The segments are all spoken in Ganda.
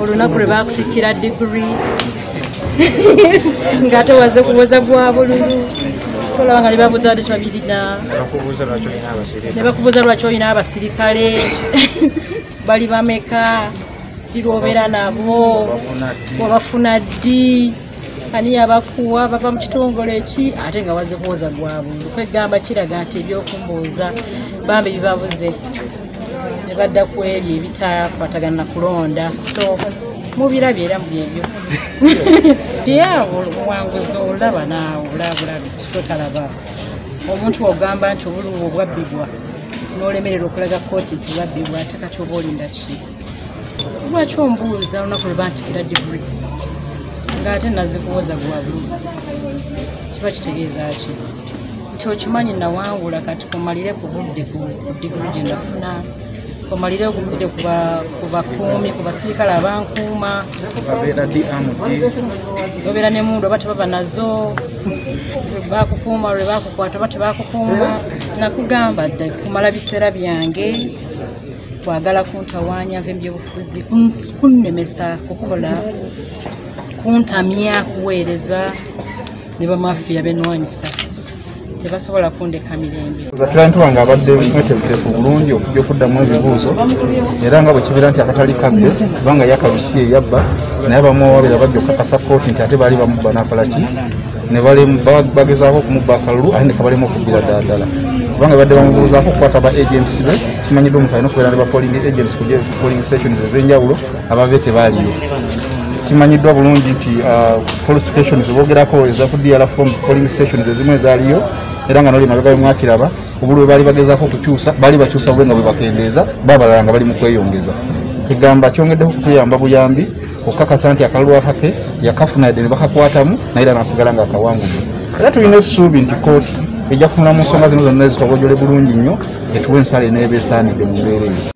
olunaku lwe bakutikkira digiri nga tewaze kuwoza gwa bululu tolaba nga nebabuuza bade tebabirina nebakubuuza lwaki olina abasirikale bali bameka kirwobeera nabo wabafuna ddi ani yabakuwa bava mu kitongole ki ate nga waze kuwoza gwa bululu kwegamba kiraga nti ebyokumbuuza bambi bibabuze ne badda ku ebyo ebitakwatagana na kulonda so mubirabye era mubyebyo yaawo obuwanguzi olaba naawe olabulabi kitotalaba omuntu ogamba nti obulubu obwabbibwa n'olemerera okulaga kooti nti bwabbibwa ate kati oba olinda ki lwaki ombuuza olunaku lwe bantikira digri ng'ate nazikuwoza gwa bulubu kiba kitegeeza ki nti okimanyi nawangula kati komalire ku budde ku digulu gye nafuna komalire ku budde ku bakuumi ku basirikale abankuuma obeera ne mundu oba tebaba nazo bakukuuma lwe bakukwata oba tebakukuuma nakugamba dda kumala biseera byange kwagala kuntawaanya nva ebyobufuzi kunnemesa kukola kuntamya kuweereza ne bamafiya benwanyisa tebasobola kundeka mirembe client wange abadde mwetegefu bulungi okujja okuddamu ebibuuzo era nga bwekibeera nti akatali kabbe kubanga yakabisi eyabba naye bamuwawabira bajja okukakasa kooti nti ate baali bamubba nakolaki ne bagezaako okumubba akalulu ate ne kabalemu okubbira ddala kubanga badde bamubuuzaako okukwata ba agents be kimanyiddwa omuntu alina okubeera ne ba polling agents ku polling stations ezenjawulo ababe tebaliyo kimanyiddwa bulungi nti uh, police stations bogerako eza ku dr form polling stations ezimu ezaliyo era nga noli mabega bemwakiraba obuli bwe baali bagezako okukyusa baali bakyusa bube nga bwebakendeeza babalala nga bali mu kweyongeza kugamba kyongeddeho okutuyamba buyambi okukakasa nti akalulu akake yakafuna yadde ne bakakwatamu naye era nasigala nga akawanguzi era tulina essuubi nti kooti ejja kutunula mu nsonga zino zonna ezitobojole bulungi nnyo etuwa ensala eneeba esaanidde mu mbeera eyo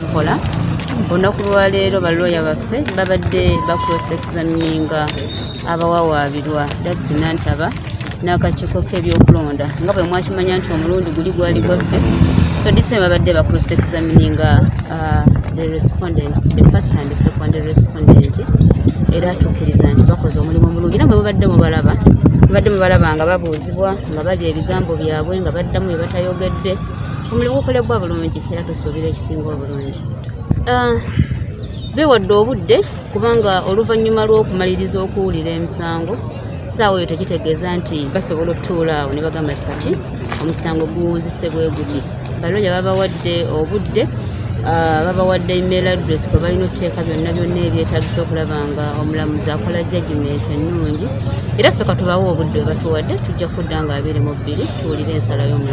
mukola olunaku lwaleero balooya baffe babadde bakulosekizamininga abawawaabirwa dasi nantaba n'akakiiko k'ebyokulonda nga bwe mwakimanya nti omulundi guli gwali gwaffe so disem babadde bakulosekizamininga uh, the respondents the first and second respondent era atuukiriza nti bakoze omulimu omulungi era mwe mubadde mubalaba mubadde mubalaba nga babuuzibwa nga balya ebigambo byabwe nga baddamu bye batayogedde omulimu gukolebwa bulungi era tusuubira ekisinga obulungi ah, bewadde obudde kubanga oluvannyuma lw'okumaliriza okuwulira emisango saawa eyo tekitegeeza nti basobola otutuula awo ne bagamba ti kati omusango guwunzise bwe guti baloya babawadde obudde ah, babawadde email address kwe balina okuteeka byonna byonna ebyetagisa okulaba nga omulamuzi akola jajumenti ennungi era ffe katubawa obudde webatuwadde tujja kudda nga abiri mu bbiri tuwulire ensala y'omulamu